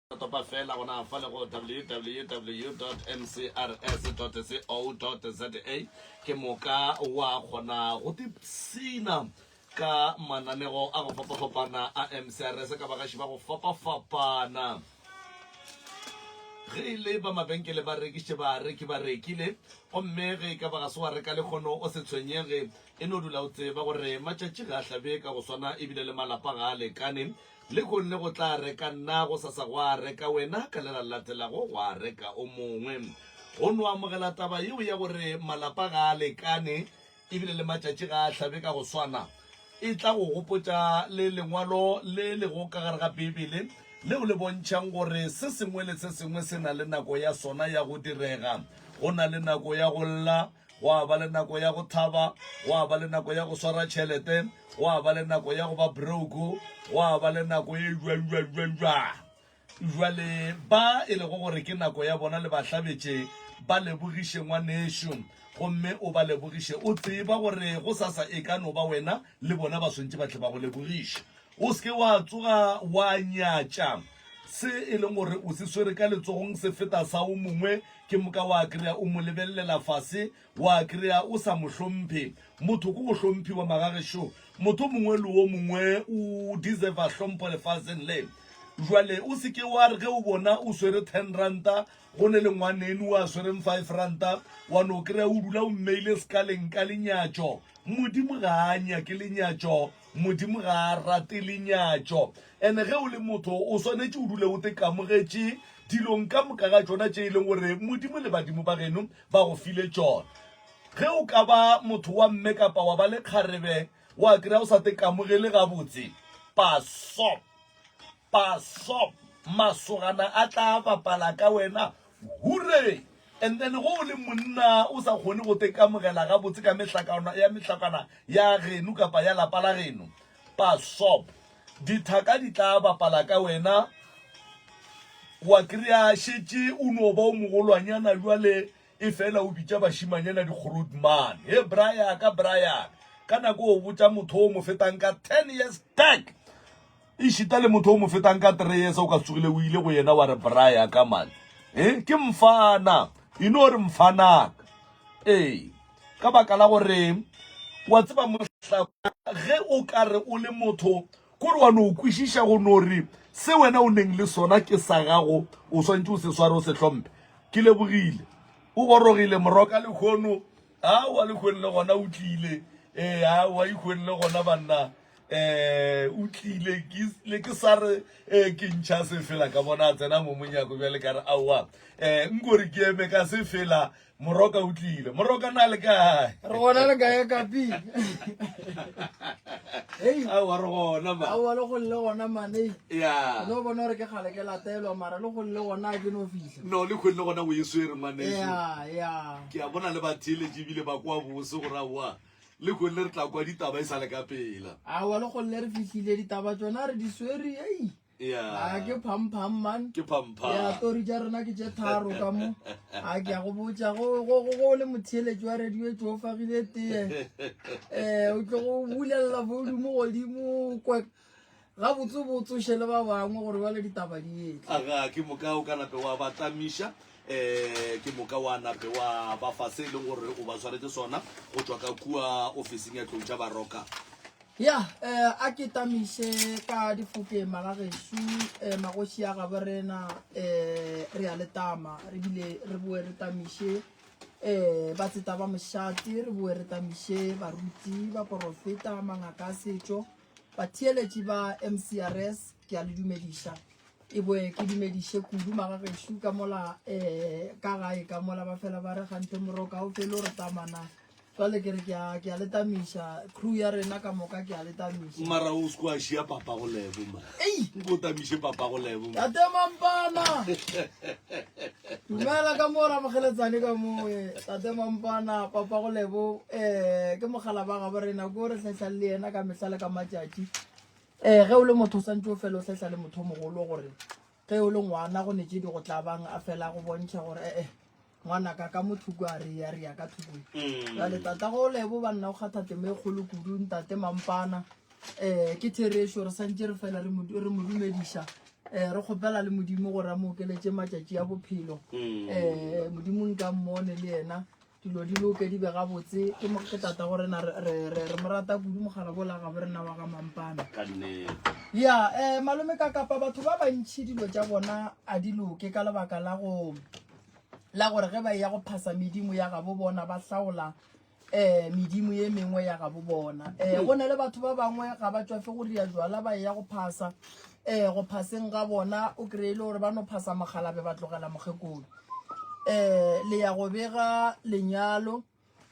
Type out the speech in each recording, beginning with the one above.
Topa feela gona fa le go www.mcrs.co.za ke moka wa kgona go tipsina ka mananego a go fapafapana a mcrs ka bagaši ba go fapafapana ge e le ba mabenkele ba rekišitše bareki ba rekile gomme ge e ka ba ga se wa reka lekgono o se tshwenyege e no dula o tseba gore matšatši ga a hlabe ka go swana ebile le malapa ga a lekane Lehono go tla reka nna, gosasa gwa reka wena, ka le la latelago gwa reka o mongwe. O no amogela taba yeo ya gore malapa ga a lekane e bile le matšatši ga a hlabe ka go swana? E tla go gopotša le lengwalo le lego ka gare ga Beibele leo le bontšhang gore se sengwe le se sengwe se na le nako ya sona ya go direga. Go na le nako ya go lla. Gwa ba le nako ya go thaba, gwa ba le nako ya go swara tšhelete, gwa ba le nako ya go ba broko, gwa ba le nako e jwajwajwajwa. Jwale ba e lego gore ke nako ya bona le ba hlabetše, ba lebogiše ngwanešu gomme o ba lebogiše. O tseba gore gosasa e ka no ba wena, le bona ba swantše ba tle ba go lebogiše. O se ke wa tsoga wa nyatša se e leng gore o se swere ka letsogong se feta sa o mongwe, ke moka wa kry-a o mo lebelelela fase, wa kry-a o sa mo hlomphe. Motho ke go hlomphiwa magagešo, motho mongwe le o mongwe o deserva hlompho lefaseng le. Jwale o se ke wa re ge o bona o swere ten ranta go ne le ngwanenu a swereng five ranta, wa no kry-a o dula o mmeile sekaleng ka lenyatšo. Modimo ga a nyake lenyatšo. Modimo ga a rate lenyatšo. And ge o le motho, o swanetše o dule o tekamogetše dilong ka moka ga tšona tše e leng gore Modimo le badimo ba geno ba go file tšona. Ge o ka ba motho wa mme kapa wa ba le kgarebe, wa kry-a o sa tekamogele gabotse. Paso. Pasop, masogana a tla bapala ka wena, hurray! And then ge o le monna o sa kgone go tekamogela gabotse ka mehlakana ya mehlakana ya geno kapa ya lapa la geno, Pasop, dithaka di tla bapala ka wena, wa kry-a šetše o no ba o mogolwanyana bjale efela o bitša bašimanyana di-groot man, He bra ya ka, bra ya ka! Ka nako o botša motho o mo fetang ka ten years back. Ešita le motho o mo fetang ka three years o ka tsogile o ile go yena wa re bra ya ka man e eh, ke mfana e no re mfanaka ee ka baka la gore wa tseba mohla ge o ka re o le motho kore wa no kwešiša go no re se wena o neng le sona ke sa gago o swantse o se sware o se hlompe ke lebogile o gorogile moroka lekgono a wa lekgone le gona o tlile ee a wa ikgone le gona banna um o tlile ne ke sa re um ke ntšha se fela ka bona a tsena mo monyako bjale ka re aowa um eh, nkore ke eme ka se fela moroka o tlile moroka na le kae re gona le kae kapi aowa re gona ma aowa le golle gona mane ya no bona gore ke gale ke latelwa mara le golle gona ke no fihla no le kgwele gona o e swere mane ya ya ke a bona le ba theletše ebile ba kwa bose gore aowa Le golle re tla kwa ditaba e sale ka pela. Awa le golle re fihlile ditaba tsona re di swere ei. Yeah. A ke pham pham man. Ke pham pham. Yeah, story ja rena ke je tharo ka mo. A ke go botsa go go go go le motheletsi wa radio e tšofagile tee. Eh, o tlo go bulella volume godimo kwek. gabotse botse o šele ba bangwe gore bale ditaba di etle aga ke moka o ka nape wa ba tlamiša um eh, ke moka wa nape wa ba fa se e leng gore o ba tshwaretse sona go tswa ka kua ofising ya tlou tša baroka ya um a ke tamiše ka difoke magagešu um eh, magoši a gabo rena um re ya letama re bile re boe re tamiše um ba tseta ba mošate re boe re tamiše baruti ba porofeta mangaka a setšo Batheeletši ba MCRS ke a le dumediša. E boe ke dumediše kudu magagešo ka mola um ka gae ka mola ba fela ba re gante moroka o fele o re tamana jwale ke re ke a ke a le tamiša crew ya rena ka moka ke a le tamiša mara o se ko a šia papa go lebo ma ei nko tamiše papa go lebo ya temampana Dumela ka mo ramogeletsane ka moe tate mampana papa go lebo um eh, ke mogala ba gabo rena ko re tlhahlang le yena ka mehla le ka matšatši um ge o le motho o santse o fela o tlhahla le motho mogolo gore ge o le ngwana go netse di go tlabang a fela go bontšha gore ee eh, ngwana ka ka mothoko a re ya re ya ka thokong mm. jale tata go lebo banna o kgatha temo e kgolo kudu ntate mampana um ke therešo re santse re fela re mo dumediša um re kgopela le modimo gore a mo okeletse matšatši a bophelo um modimo nka mmone le yena dilo di loke di be gabotse ke ke tata go rena re mo rata kudu mogala bola gabo rena wa ga mampana ya um malome ka kapa batho ba bantšhi dilo tša bona a di loke ka lebaka la go la gore ge ba e ya go phasa medimo ya gabo bona ba hlaola um medimo ye mengwe ya gabo bona um go na le batho ba bangwe ga ba tswafe go ria jwala ba eya go phasa um go phaseng ga bona o kry-e le gore ba no phasa mogalabe ba tlogela mokgekolo um le ya go bega lenyalo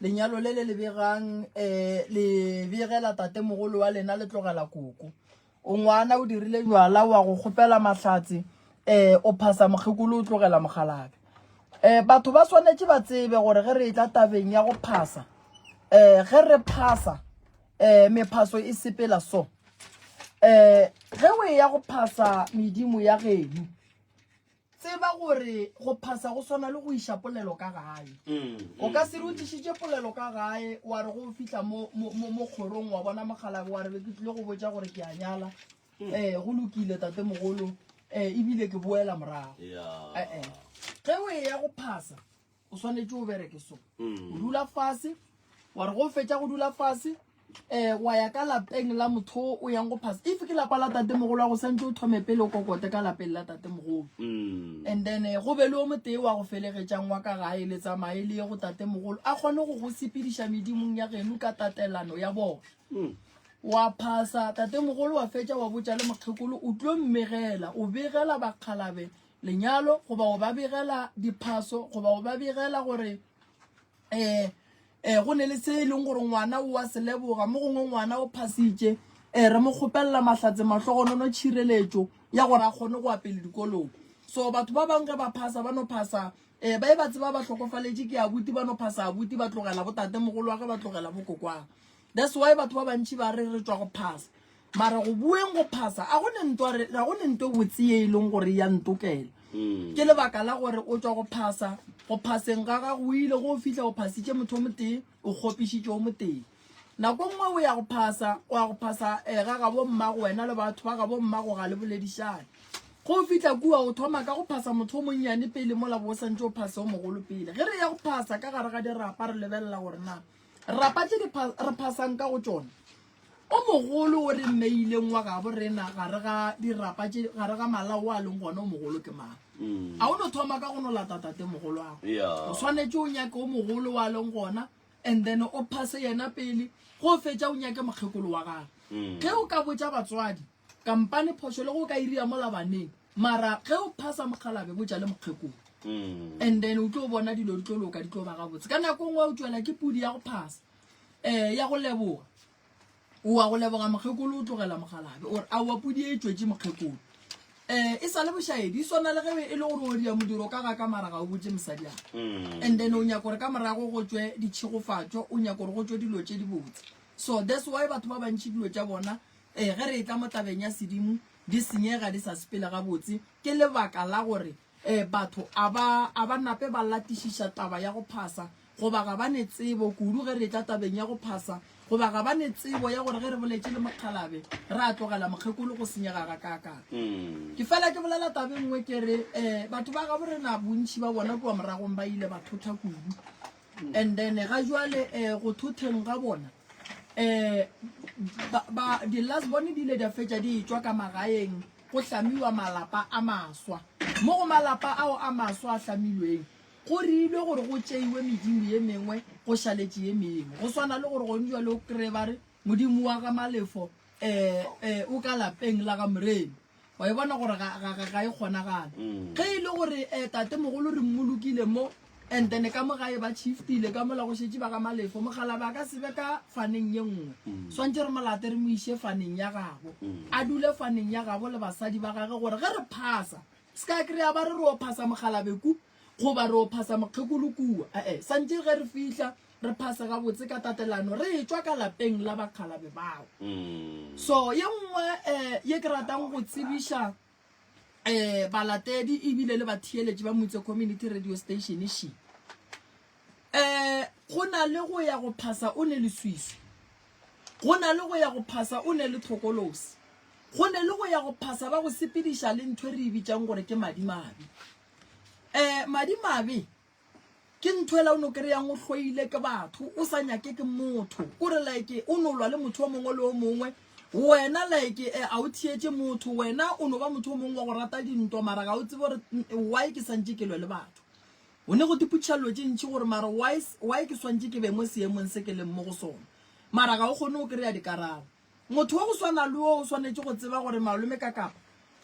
lenyalo le le le begang um le begela tate mogolo wa lena le tlogela koko O ngwana o dirile jwala wa go kgopela mahlatse eh o phasa mokgekolo o tlogela mogalabe eh batho ba swanetše ba tsebe gore ge re etla tabeng ya go phasa eh ge re phasa eh mephaso e sepela so eh ge o e ya go phasa medimo ya geno Tseba gore go phasa go swana le go iša polelo ka gae. O ka se re o tlišitše polelo ka gae wa re go o fihla mo kgorong wa bona mogalabe wa re be ke tlile go botša gore ke a nyala. Um go lokile tate mogolo um ebile ke boela morago. Ge o e ya go phasa o swanetše o bereke so mm. o dula fase wa re go fetša go dula fase um wa ya ka lapeng la motho o yang go phasa if ke lapa la tate mogolo wa go santse o thome pele o kokote ka lapeng la tate mogolo mm. and then eh, go be le o motee wa go felegetšang wa ka gae le tsamaye le ye go tate mogolo a kgone go go sepediša medimong ya geno ka tatelano ya bona mm. wa phasa tate mogolo wa fetša wa botša le mokgekolo o tlo mmegela o begela bakgalabe lenyalo goba go ba begela diphaso goba go ba begela gore um um go ne le se e leng gore ngwana o wa seleboga mo gongwe ngwana o phasitše um eh, re mo kgopelela mahlatse mahlogonono tšhireletšo ya gore a kgone go apele dikolong so batho ba bangwe ge ba phasa ba no phasa um ba e ba tseba ba tlhokofaletše ke abuti ba no phasa abuti ba tlogela botate mogolo wa ge ba tlogela bokokwang that's why batho ba bantšhi ba re re tswa go phasa mara go bueng go phasa a go ne ntwa re ga go ne ntwa botse e leng gore ya ntokela mm. ke lebaka la gore o tswa go phasa go phaseng ga ga go ile go fihla o phasitše motho mo teng o gopišitše o mo teng nako e nngwe o ya go phasa o ya go phasa um ga gabo mmago wena le batho ba gabo mmago ga le boledišane go fihla kua o thoma ka go phasa motho o monnyane pele mola bo o santse o phase o mogolo pele ge re ya go phasa ka gare ga dirapa re lebelela gore na rapa tse re phasang ka go tsone O mogolo o re mmeileng wa gabo rena gare ga dirapa tše gare ga malao a leng gona o mogolo ke mang? Mm. A o no thoma ka go no lata tate mogolo wa go. Yeah. O swanetše o nyake o mogolo wa leng gona and then o phase yena pele go fetša o nyake mokgekolo wa gago. Mm. Ge o ka botša batswadi kampane phošo le go ka iria mola baneng mara ge o phasa mokgalabe botša le mokgekolo. Mm. And then o tlo bona dilo di tlo loka di tlo ba gabotse. Ka nako e nngwe o tšwela ke pudi ya go phasa. eh ya go leboga oa go leboga mokgekolo o tlogela mogalabe ore a oa podi e tšwetše mokgekolo eh e sa le bošaedi e swana le ge e le gore o dia modiro ka ga ka mara ga o botse mosadi ane mm. and then o nyaka gore ka morago go tswe ditšhegofatšo o nyaka gore go tswe dilo tše di botse so that's why batho ba bantšhi dilo tša bona eh ge re e tla mo tabeng ya sedimo di senyega di sa sepele gabotse ke lebaka la gore um batho a ba a ba nape ba latišiša taba ya go phasa goba ga ba ne tsebo kudu ge re tla tabeng ya go phasa goba ga ba ne tsebo ya gore ge re boletše le mokgalabe re a tlogela mokgekolo go senyega ga kaakang mm. ke fela ke bolela tabe nngwe ke re um batho ba gabo rena bontšhi ba bona kua moragong ba ile ba thotha kudu And then eh, ga jwale eh, go thotheng ga bona eh, ba, ba, di last bone di ile di a fetša di etswa ka magaeng go hlamiwa malapa a maswa mo go malapa ao a maswa a hlamilweng go riilwe gore go tšeiwe medimo ye mengwe go šaletše ye mengwe go swana le gore gone jwale o kry-e ba re Modimo wa ga Malefo eh, eh, o ka lapeng la ga Moremi. Wa e bona gore ga, ga, ga, ga e kgonagale. Ge e le gore eh, tate mogolo re mmolokile mo, and then ka mo gae ba chiftile ka mola go šetše ba ga Malefo, mokgalabe a ka sebe ka faneng ye nngwe. Swantše re molate re mo iše faneng ya gabo. A dule faneng ya gabo le basadi ba gage gore ge re phasa, se ka kry-a ba re re o phasa mokgalabe ku, goba re o phasa mokgekolo kua. Eh, eh, santše ge re fihla, re phasa gabotse ka tatelano re e tšwa ka lapeng la bakgalabe bao mm. so ye nngwe um ye ke ratang go tsebiša um balatedi ebile le batheeletši ba motse community radio station she um go na le go ya go phasa o ne leswiswi go na le go ya go phasa o ne le tlhokolosi go ne le go ya go phasa ba go sepediša le ntho e re e bitsang gore ke madimabe um madimabe ke ntho ela o no kry-ang o hloile ke batho o sa nyake ke motho kore like o no lwa le motho o mongwe le o mongwe wena like eh, a o thietse motho wena o no ba motho o mongwe wa go rata dintwa mara ga o tsebe gore mm, why ke santse ke lwe le batho o ne go tiputšhelelo tše ntšhi gore mara why s- why ke swantse ke be mo seemong se ke leng mo go sone mara ga o kgone o kry-a dikarabo motho wa go swana le o o swanetše go tseba gore malome ka kapa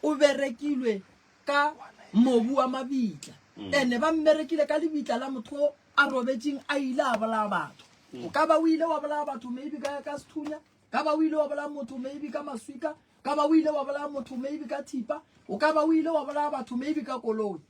o berekilwe ka mobu wa mabitla ene ba mmerekile ka lebitla la motho o a robetšeng a ile a bolaya batho o ka ba o ile wa bolaya batho maybe ka ka sethunya ka ba o ile wa bolaya motho maybe ka maswika ka ba o ile wa bolaya motho maybe ka thipa o ka ba o ile wa bolaya batho maybe ka koloi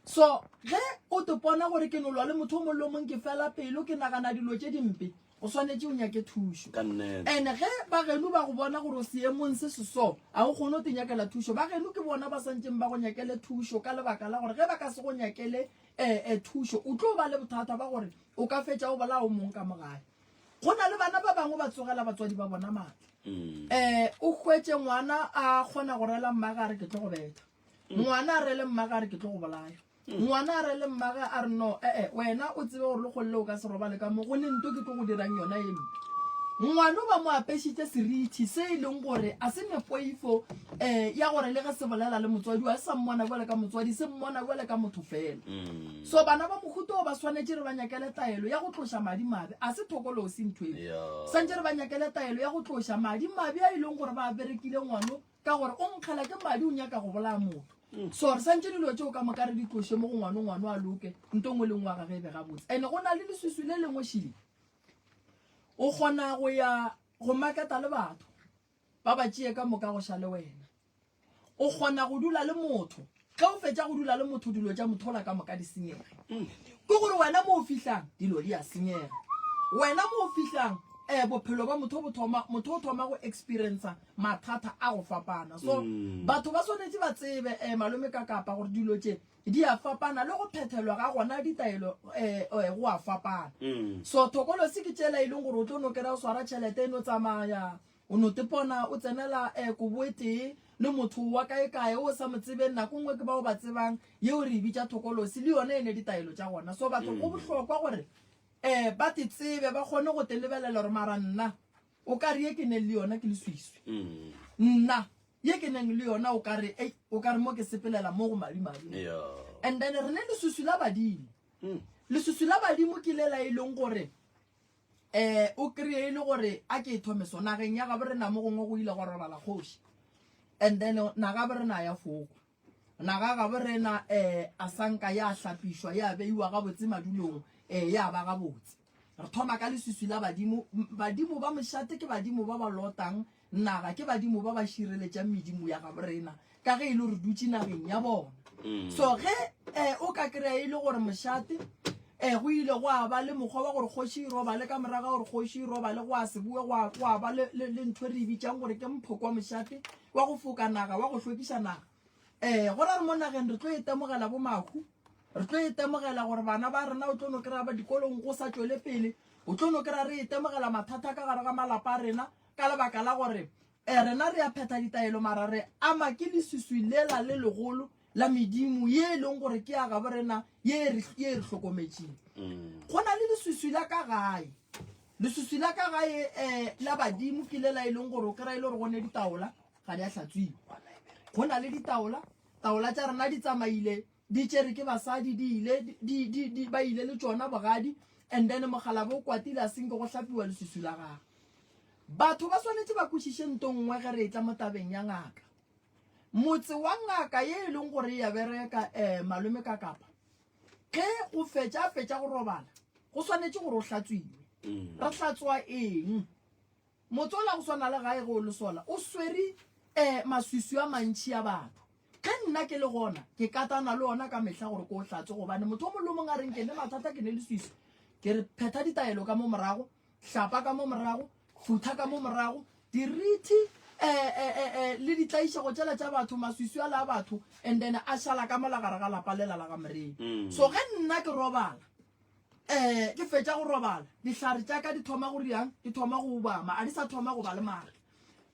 so ge o tepona gore ke nolwa le motho o molomong ke fela pelo ke nagana dilo tše dimpe o swanetše o nyake thušo ande ge bageno ba go bona gore o seemong se seso ga o kgone o te nyakela thušo bageno ke bona ba swanetseng ba go nyakele thušo ka lebaka la gore ge ba ka se go nyakele um thušo o tlo ba le bothata ba gore o ka fetša o bolao mong ka mogae go na le bana ba bangwe ba tsogela batswadi ba bona maatla um o hwetse ngwana a kgona go rela mmagare ke tlo go betha ngwana a rele mmaga a re ke tlo go bolaya ngwana a rele mmaga a re no ee wena o tsebe gore le golele o ka se robale ka mo go ne nto ke tlo go dirang yona e mpe ngwana ba mo apešitse serithi se e leng gore a se nepoifo um eh, ya gore le ge se bolela le motswadi wa sa mmona bjale ka motswadi se mmona bjale ka motho fela mm. so bana ba mohuto o ba swanetše re ba nyakele taelo ya go tloša madi mabe a se thokolosi ntho e santse re ba nyakele taelo ya go tloša madi mabe a e leng gore ba berekile ngwano ka gore o nkgela ke madi o nyaka go bolaya motho mm. so re santse dilo tseo ka moka re di tloše mo go ngwane ngwane a loke nto ngwe le ngwe wa gage e be gabotse and-e go na le leswiswi le lengwe šile o kgona go ya go maketa le batho ba ba tšee ka moka go ša le wena o kgona go dula le motho Ge o fetša go dula le motho, dilo tša mothola ka moka di senyega. Ke gore wena mo o fihlang, dilo di a senyega. Wena mo o fihlang, eh, bophelo ba motho bo thoma, motho o thoma go experiencer mathata a go fapana. So, batho ba swanetše ba tsebe, eh, Malome ka Kapa, gore dilo tše di a fapana, le go phethelwa ga gona ditaelo, eh, eh, go a fapana. So, thokolosi ke tšela e leng gore o tlo no kry-a o swara tšhelete e no tsamaya, O no tepona o tsenela eh, koboetee le motho wa kaekae o sa mo tsebeng nako nngwe ke ba o ba tsebang yeo re e bitša thokolosi le yone e ne ditaelo tša gona so batho go mm. bohlokwa gore um ba te tsebe ba kgone go te lebelela gore mara nna o ka re ye ke neng le yona ke le swiswi mm. nna ye ke neng le yona o kare e o kare mo ke sepelela mo go madimabe and then re ne leswiswi la badimo mm. leswiswi la badimo ke le la e leng gore Ee, o kreye e le gore a ke e thome so nageng ya gabo re na mo gongwe go ile go robala kgoši and then na gabo re na ya foko naga gabo re na um eh, a sanka ya hlapišwa ya beiwa gabotse madulong um eh, ya ba gabotse re thoma ka leswiswi la badimo badimo ba mošate ke badimo ba ba lotang Na ga ke badimo ba ba šireletšang medimo ya gabo rena ka ge e le gore dutše nageng ya bona? Mm. So ge eh, o ka kry-a e le gore mošate um go ile go a ba le mokgwa wa gore kgoši e robale ka morago gore kgoši e robale go a seboe go a ba le ntho e re e bitsang gore ke mphoko wa mošate wa go foka naga wa go hlwekiša naga um go ra re mo nageng re tlo e temogela bo mahu re tlo e temogela gore bana ba rena o tlo no kry-a ba dikolong go sa tswele pele o tlo no kry-a re e temogela mathata ka gare ga malapa a rena ka lebaka la gore um rena re a phetha ditaelo mara re ama ke leswiswi lela le legolo la medimo ye e leng gore ke ya gabo rena ye e re e hlokometseng mm. go na le leswiswi la ka gae leswiswi la ka gae um la badimo ke lela e leng gore o kry-e le gore gone ditaola ga di a tlhatswiwa go na le ditaola taola tsa rena di tsamaile di tšere ke basadi di ile di, di, di, ba ile le tšona bogadi and then mogalabe o kwatile a senke go hlapiwa lesusu la gagwe batho ba swanetše ba kwešiše nto nngwe ge re etla mo tabeng ya ngaka motse wa ngaka ye e leng gore ya bereka um malome ka kapa ge o fetša a fetša go robala go swanetše gore o hlatswiwe mm. re hlatswa eng Motsola go swana le gae ge o le sola o swere eh maswiswi a mantši a batho. Ge nna ke le gona ke katana le ona ka mehla gore ke o hlatse gobane motho o mong le o mong a reng ke ne mathata ke ne leswiswi. Ke re phetha ditaelo ka mo morago, hlapa ka mo morago, phutha ka mo morago, dirithi eh eh eh eh le ditlaišego tšela tša batho, maswiswi ala a batho and then a šala ka mola gare ga lapa lela la ga Morena. So ge nna ke robala, um ke fetša go robala dihlare tša ka di thoma go riang di thoma go ubama a di sa thoma go ba le maatla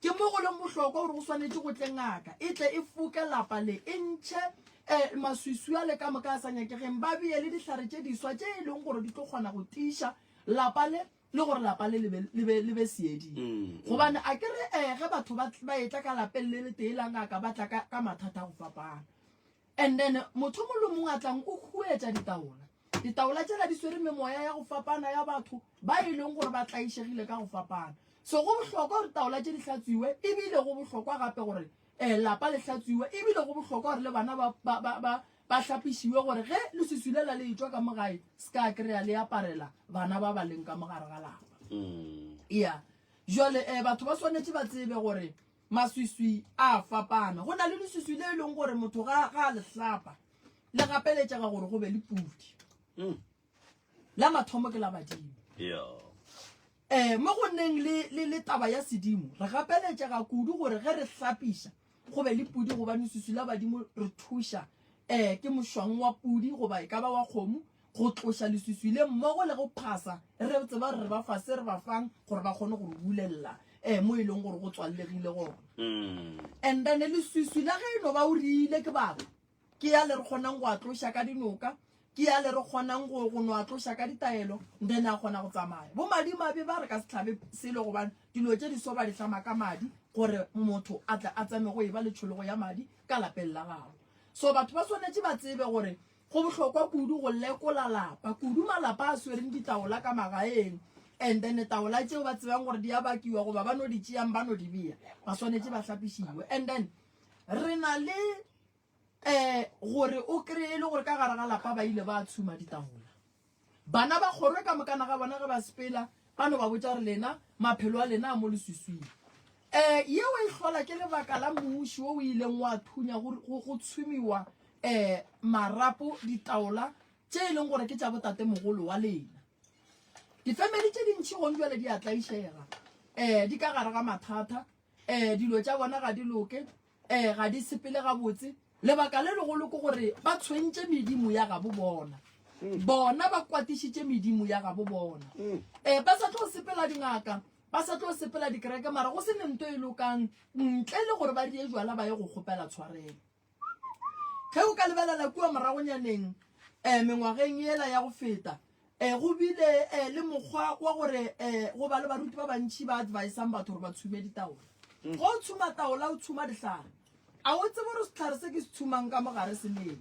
ke mo go leng bohlokwa gore go swanetše go tle ngaka e tle e foke lapa le e ntšhe um maswiswi a le ka moka a sa nyakegeng ba beye le dihlare tše diswa tše e leng gore di tlo kgona go tiiša lapa le le gore lapa le le be seeding mm. gobane a ke re um ge batho ba etla ka lapeng le le tee la ngaka ba tla ka mathata go fapana And then motho mongwe le mongwe a tlang o huetša ditaola. Ditaola tšela di swere memoya ya go fapana ya batho ba e leng gore ba tlaišegile ka go fapana. So go bohlokwa gore taola tše di hlatswiwe ebile go bohlokwa gape gore um lapa le hlatswiwe ebile go bohlokwa gore le bana ba, ba, ba, ba, ba hlapišiwe gore ge leswiswi lela le etšwa ka mogae se ka kry-a le aparela bana ba ba leng ka mogare ga lapa mm. ya jale um batho ba swanetše ba tsebe gore Maswiswi a a fapana. Go na le leswiswi le e leng gore motho ga a le hlapa le gapeletšega gore go be le pudi. Hmm. La mathomo ke la badimo. Eh, mo go nneng le taba ya sedimo re gapeletšega kudu gore ge re hlapiša go be le pudi gobane leswiswi la badimo re thuša um ke mošwang wa pudi goba e ka ba wa kgomo go tloša leswiswi le mmogo le go phasa, re tseba gore re ba fa se re ba fang gore ba kgone go re bulelela um mo e leng gore go tswallegile gona. Mm. And then leswiswi la ge e no ba o riile ke baba ke ya le re kgonang go a tloša ka dinoka ke ya le re kgonang go go no a tloša ka ditaelo then a kgona go tsamaya bo madimabe ba re ka se tlhabe selo gobane dilo tše di so ba di tlama ka madi gore motho a tle a tsame go e ba letšhologo ya madi ka lapeng la gago so batho ba swanetše ba tsebe gore Go bohlokwa kudu go lekola lapa, kudu malapa a swereng ditaola ka magaeng, and then taola tšeo ba tsebang gore di a bakiwa goba ba no di tšeang ba no di beya, ba swanetše ba hlapišiwe. And then re na le um gore o kry-e le gore ka gare ga lapa ba ile ba tshuma ditaola. Bana ba kgorwe ka mokana ga bona ge ba sepela, ba no ba botša re lena, maphelo a lena a mo leswiswing. Um yeo e hlola ke lebaka la mmuši wo o ileng wa thunya go, go, go tshumiwa um marapo ditaola tše e leng gore ke tša botatemogolo wa lena. Difemeli tše dintši gong jwale di a tlaišega, um di ka gare ga mathata. um dilo tša bona ga di loke um ga di sepele gabotse lebaka le legolo ke gore ba tshwentše medimo ya gabo bona bona ba kwatišitše medimo ya gabo bona um ba sa tlo sepela dingaka ba sa tlo sepela dikereke mara go se ne nto e lokang ntle le gore ba die jwala ba ye go kgopela tshwarelo Ge o ka lebelela kua moragonyaneng um mengwageng yela ya go feta, um go bile um le mokgwa wa gore um go ba le baruti ba bantši ba advisang batho gore ba tshume ditaola. Mm. Ge o tshuma taola, o tshuma dihlare. A o tsebe gore sehlare se ke se tshumang ka mogare se leng?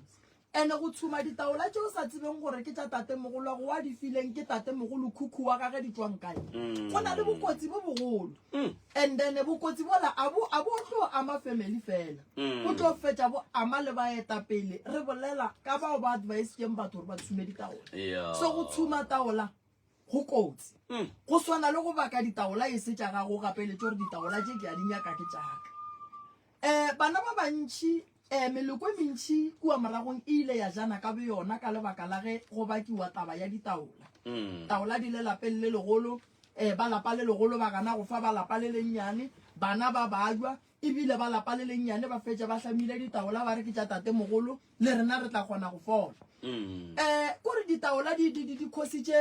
Ene go tshuma ditaola tše o sa tsebeng gore ke tša tatemogolo go wa di fileng ke tatemogolo khukhu wa gage di tswang kae, mm. go na le bokotsi bo bogolo. Mm. And then bokotsi bola a bo a bo tlo ama family fela. Mm. Bo tlo fetša bo ama le baetapele. Re bolela ka bao ba advice keng batho gore ba tshume ditaola. Yeah. So go tshuma taola go kotsi. Mm. Go swana le go baka ditaola e se tša gago gape le tšore ditaola tše ke a di nyaka ke tšaka. Um bana ba bantši um meloko e mentši kua moragong e ile ya jana ka boyona ka lebaka la ge go bakiwa taba ya ditaola mm. taola di le lapeng le legolo um ba lapa le legolo ba gana go fa ba lapa le lennyane bana ba bajwa ebile ba lapa le lennyane ba fetša ba hlamile ditaola ba re ke tša tate mogolo le rena re tla kgona go fola um mm. eh, kore ditaola di khositše